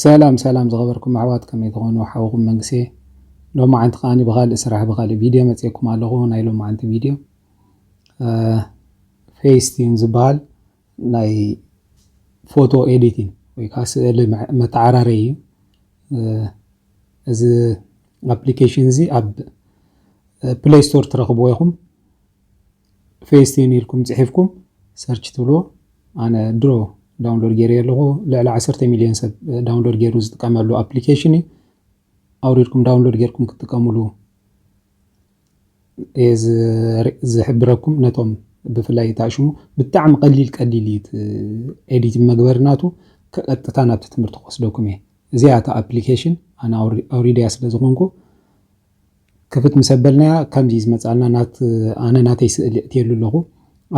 ሰላም ሰላም ዝኸበርኩም ኣሕዋት ከመይ ትኾኑ ሓውኹም መንግስየ ሎማዓንቲ ከዓኒ ብኻልእ ስራሕ ብኻልእ ቪድዮ መፅኤኩም ኣለኹ ናይ ሎማዓንቲ ቪድዮ ፌስቲን ዝበሃል ናይ ፎቶ ኤዲቲን ወይ ከዓ ስእሊ መተዓራረይ እዩ እዚ ኣፕሊኬሽን እዚ ኣብ ፕሌይ ስቶር ትረኽብዎ ኢኹም ፌስቲን ኢልኩም ጺሒፍኩም ሰርች ትብልዎ ኣነ ድሮ ዳውንሎድ ገይረዮ ኣለኹ ልዕሊ ዓሰርተ ሚልዮን ሰብ ዳውንሎድ ገይሩ ዝጥቀመሉ ኣፕሊኬሽን እዩ ኣውሪድኩም ዳውንሎድ ገይርኩም ክትጥቀምሉ እየ ዝሕብረኩም ነቶም ብፍላይ ታሽሙ ብጣዕሚ ቀሊል ቀሊል እዩ ኤዲት መግበሪ ናቱ ቀጥታ ናብቲ ትምህርቲ ክወስደኩም እየ እዚኣ እታ ኣፕሊኬሽን ኣነ ኣውሪድያ ስለ ዝኾንኩ ክፍት ምስ ኣበልናያ ከምዚ ዝመጻልና ናት ኣነ ናተይ ስእሊ ኣእትየሉ ኣለኹ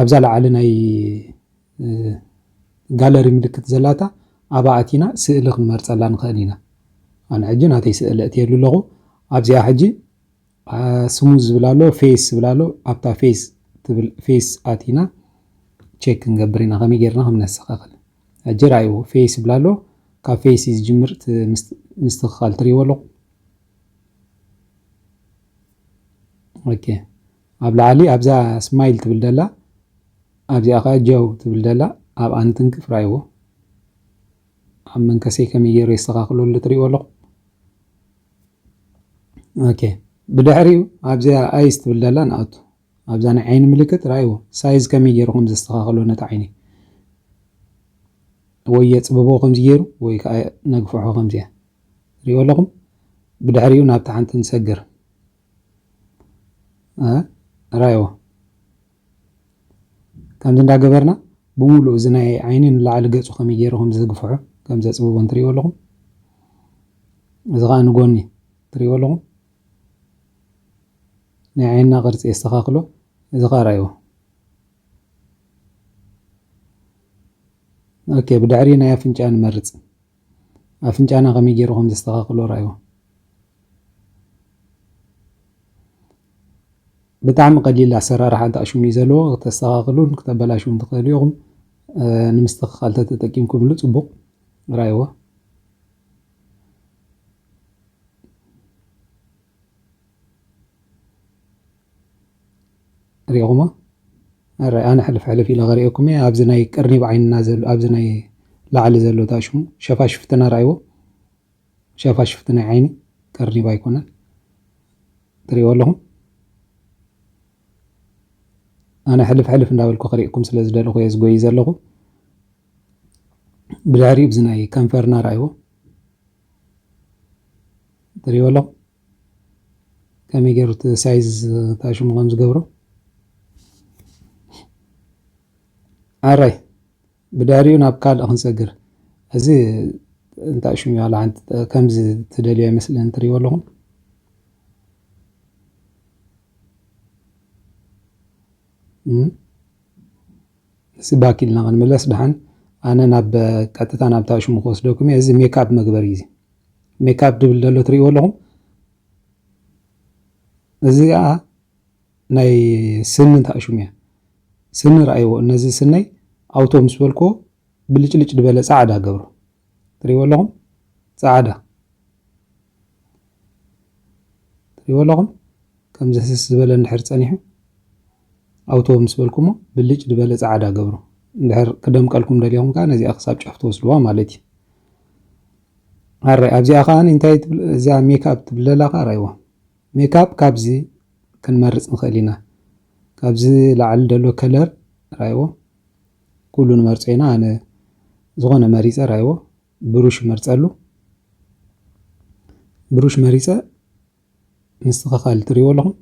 ኣብዛ ላዓሊ ናይ ጋለሪ ምልክት ዘላታ ኣብኣ ኣቲና ስእሊ ክንመርጸላ ንኽእል ኢና ኣነ ሕጂ ናተይ ስእሊ ኣእትየሉ ኣለኹ ኣብዚኣ ሕጂ ስሙዝ ዝብል ኣሎ ፌስ ዝብል ኣሎ ኣብታ ፌስ ትብል ፌስ ኣቲና ቼክ ክንገብር ኢና ከመይ ጌርና ከም ነስተኻኽል ሕጂ ራእይዎ ፌስ ይብል ኣሎ ካብ ፌስ ዝጅምር ምስትኽኻል ትሪእዎ ኣለኹ ኦኬ ኣብ ላዕሊ ኣብዛ ስማይል ትብል ደላ ኣብዚኣ ከዓ ጀው ትብል ደላ ኣብኣ ንትንክፍ ራይዎ ኣብ መንከሰይ ከመይ ገይረ የስተኻኽሎ ኣሎ ትሪእዎ ኣለኹ ኦኬ ብድሕሪኡ ኣብዚኣ ኣይስ ትብል ደላ ንኣቱ ኣብዛ ናይ ዓይኒ ምልክት ራኣይዎ ሳይዝ ከመይ ጌሩ ከም ዘስተኻኽሎ ነቲ ዓይኒ ወይ የጽብቦ ከምዚ ጌሩ ወይ ከኣ ነግፍሖ ከምዚ ትሪእዎ ኣለኹም ብድሕሪኡ ናብታ ሓንቲ ንሰግር ራኣይዎ ከምዚ እንዳገበርና ብምሉእ እዚ ናይ ዓይኒ ንላዕሊ ገጹ ከመይ ጌሩ ከም ዘግፍሖ ከም ዘጽብቦ እንትሪእዎ ኣለኹም እዚ ከኣ ንጎኒ ትሪእዎ ኣለኹም ናይ ዓይንና ቅርጺ የስተካክሎ እዚ ከኣ ርኣይዎ። ኦኬ ብድሕሪ ናይ ኣፍንጫ ንመርጽ። ኣፍንጫና ከመይ ጌሩ ከም ዘስተካክሎ ርኣይዎ። ብጣዕሚ ቀሊል ኣሰራርሓ እንተ ኣሽሙን እዩ ዘለዎ ክተስተካክሉን ክተበላሽዉን ትክእሉ ኢኩም። ንምስትክካል ተተጠቂምኩምሉ ጽቡቅ ርኣይዎ። ሪኢኹሞ ኣራይ ኣነ ሕልፍ ሕልፍ ኢለ ከሪኤኩም እየ ኣብዚ ናይ ቅርኒብ ዓይንና ዘሎ ኣብዚ ናይ ላዕሊ ዘሎ ታሽሙ ሸፋሽፍትና ራእይዎ ሸፋሽፍቲ ናይ ዓይኒ ቅርኒብ ኣይኮነን ትሪእዎ ኣለኹም ኣነ ሕልፍ ሕልፍ እንዳበልኩ ክሪእኩም ስለ ዝደለኹ እየ ዝጎይ ዘለኹ ብድሕሪኡ እዚ ናይ ከንፈርና ራእይዎ ትሪእዎ ኣለኹም ከመይ ገይሩ እቲ ሳይዝ እታ ሽሙ ከም ዝገብሮ ኣራይ ብዳሪኡ ናብ ካልእ ክንሰግር እዚ እንታይ ሽሙ ዋላ ሓንቲ ከምዚ ትደልዮ ይመስለን ትሪእዎ ኣለኹም እስቲ ባክ ኢልና ክንምለስ ድሓን ኣነ ናብ ቀጥታ ናብታ ሽሙ ክወስደኩም እየ እዚ ሜክኣፕ መግበሪ እዩ እዚ ሜክኣፕ ድብል ደሎ ትሪእዎ ኣለኹም እዚ ከዓ ናይ ስኒ እንታይ ሽሙ እያ ስኒ ረኣይዎ እነዚ ስነይ ኣውቶ ምስ በልክዎ ብልጭልጭ ድበለ ፃዕዳ ገብሮ ትሪእዎ ኣለኹም ፃዕዳ ትሪእዎ ኣለኹም ከምዚ ህስስ ዝበለ እንድሕር ፀኒሑ ኣውቶ ምስ በልኩሞ ብልጭ ድበለ ጸዓዳ ገብሮ። እንድሕር ክደምቀልኩም ደሊኹም ከኣ ነዚኣ ክሳብ ጫፍ ትወስድዋ ማለት እዩ። ኣራይ ኣብዚኣ ከኣ እንታይ ትብል እዚኣ ሜክኣፕ ትብለላ ከኣ ራይዋ። ሜክኣፕ ካብዚ ክንመርጽ ንኽእል ኢና። ካብዚ ላዕሊ ደሎ ከለር ራይዎ። ኩሉ ንመርጾ ኢና ኣነ ዝኾነ መሪጸ ራይዎ። ብሩሽ እመርጸሉ። ብሩሽ መሪጸ ምስትኸኻል ትሪእዎ ኣለኹም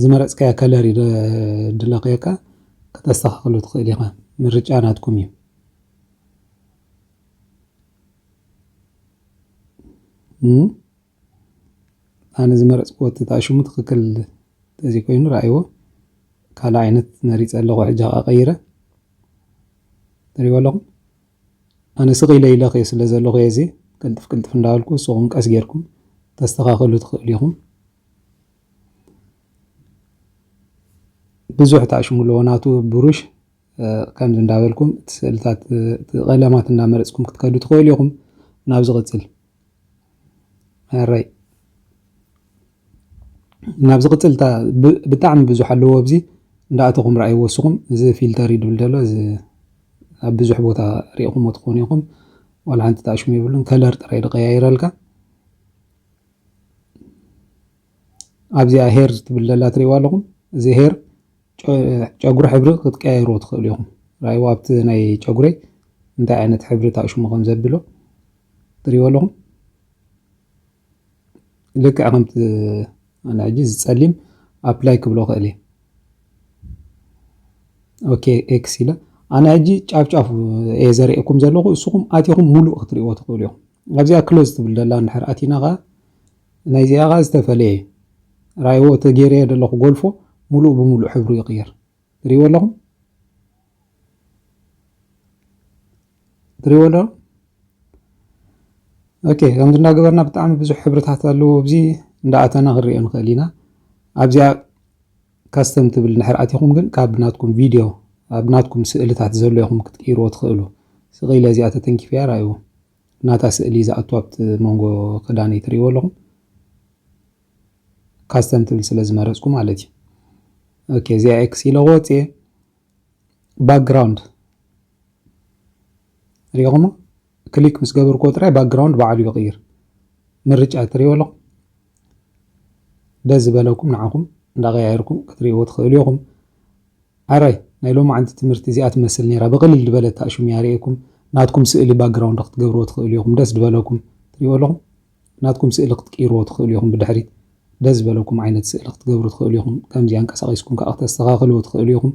ዝመረፅካዮ ከለር እዩ ድለኽየካ ክተስተኻኽሎ ትኽእል ኢኻ ምርጫ ናትኩም እዩ ኣነ ዝመረፅክዎ ተጣሽሙ ትኽክል ተዘይኮይኑ ረኣይዎ ካልእ ዓይነት መሪፀ ኣለኹ ሕጂ ኸዓ ቀይረ ትሪእዎ ኣለኹም ኣነ ስቅ ኢለ ኢለ ክየ ስለ ዘለኩ እየ እዚ ቅልጥፍ ቅልጥፍ እንዳበልኩ ንስኩም ቀስ ጌርኩም ተስተካክሉ ትክእሉ ኢኩም። ብዙሕ ታኣሽሙለዎ ናቱ ብሩሽ ከምዚ እንዳበልኩም እቲ ስእልታት እቲ ቀለማት እንዳመረጽኩም ክትከዱ ትክእሉ ኢኩም። ናብ ዝቅጽል። ሕራይ ናብ ዝቕጽል እታ ብጣዕሚ ብዙሕ ኣለዎ ኣብዚ እንዳኣተኹም ረኣይዎ እስኹም እዚ ፊልተር እዩ ድብል ዘሎ እዚ ኣብ ብዙሕ ቦታ ሪኢኹሞ ትኾኑ ኢኹም ዋላ ሓንቲ ተኣሽሙ የብሉን ከለር ጥራይ ድቀያይረልካ ኣብዚኣ ሄር ትብል ዘላ ትሪእዋ ኣለኹም እዚ ሄር ጨጉሪ ሕብሪ ክትቀያይሩ ትኽእሉ ኢኹም ረኣይዎ ኣብቲ ናይ ጨጉረይ እንታይ ዓይነት ሕብሪ ተኣሽሙ ከም ዘብሎ ትሪእዎ ኣለኹም ልክዕ ከምቲ ኣነ ሕጂ ዝፀሊም ኣፕላይ ክብሎ ክእል እየ ኦኬ ኤክስ ኢለ ኣነ ሕጂ ጫፍ ጫፍ እየ ዘርእየኩም ዘለኹ እስኹም ኣቲኹም ሙሉእ ክትሪእዎ ትኽእሉ እዮም ኣብዚኣ ክሎዝ ትብል ደላ እንድሕር ኣቲና ከዓ ናይዚኣ ከዓ ዝተፈለየ እዩ ራይዎ እቲ ገይረዮ ዘለኹ ጎልፎ ሙሉእ ብሙሉእ ሕብሩ ይቕየር ትሪእዎ ኣለኹም ትሪእዎ ኣለኹም ኦኬ ከምዚ እናገበርና ብጣዕሚ ብዙሕ ሕብርታት ኣለዎ ኣብዚ እንዳኣተና ክንሪኦ ንኽእል ኢና ኣብዚኣ ካስተም ትብል ንድሕር ኣቲኹም ግን ካብ ናትኩም ቪድዮ ኣብ ናትኩም ስእልታት ዘሎ ኢኹም ክትቅይርዎ ትኽእሉ ስቕኢለ እዚኣ ተተንኪፍያ ርኣይዎ ናታ ስእሊ ዝኣቱ ኣብቲ መንጎ ክዳነይ ትሪእዎ ኣለኹም ካስተም ትብል ስለ ዝመረጽኩ ማለት እዩ ኦኬ እዚኣ ኤክስ ኢለ ወጽየ ባክግራውንድ ሪኹሞ ክሊክ ምስ ገበርኩዎ ጥራይ ባክግራውንድ በዓሉ ይቕይር ምርጫ ትሪእዎ ኣለኹም ደስ ዝበለኩም ንዓኹም እንዳቀያየርኩም ክትሪእዎ ትኽእሉ ኢኹም ኣራይ ናይ ሎም ዓንቲ ትምህርቲ እዚኣ ትመስል ነይራ ብቕልል ዝበለት ኣሽሙ ያርእኩም ናትኩም ስእሊ ባክግራውንድ ክትገብርዎ ትኽእሉ ኢኹም ደስ ዝበለኩም ትሪእዎ ኣለኹም ናትኩም ስእሊ ክትቅይርዎ ትኽእሉ ኢኹም ብድሕሪት ደስ ዝበለኩም ዓይነት ስእሊ ክትገብሩ ትኽእሉ ኢኹም ከምዚ ኣንቀሳቂስኩም ከኣ ክተስተኻኽልዎ ትኽእሉ ኢኹም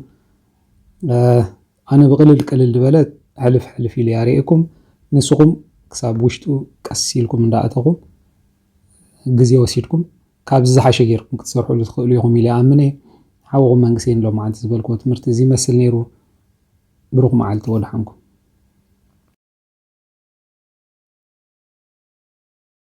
ኣነ ብቅልል ቅልል ዝበለ ሕልፍ ሕልፍ ኢለ ኣርእየኩም ንስኹም ክሳብ ውሽጡ ቀስ ኢልኩም እንዳኣተኹም ግዜ ወሲድኩም ካብዚ ዝሓሸ ጌርኩም ክትሰርሕሉ ትኽእሉ ኢኹም ኢለ ይኣምን እየ ሓውኹም መንግሰይን ሎማዓንቲ ዝበልክዎ ትምህርቲ እዚ ይመስል ኔሩ ብሩኽ መዓልቲ ወድሓንኩም።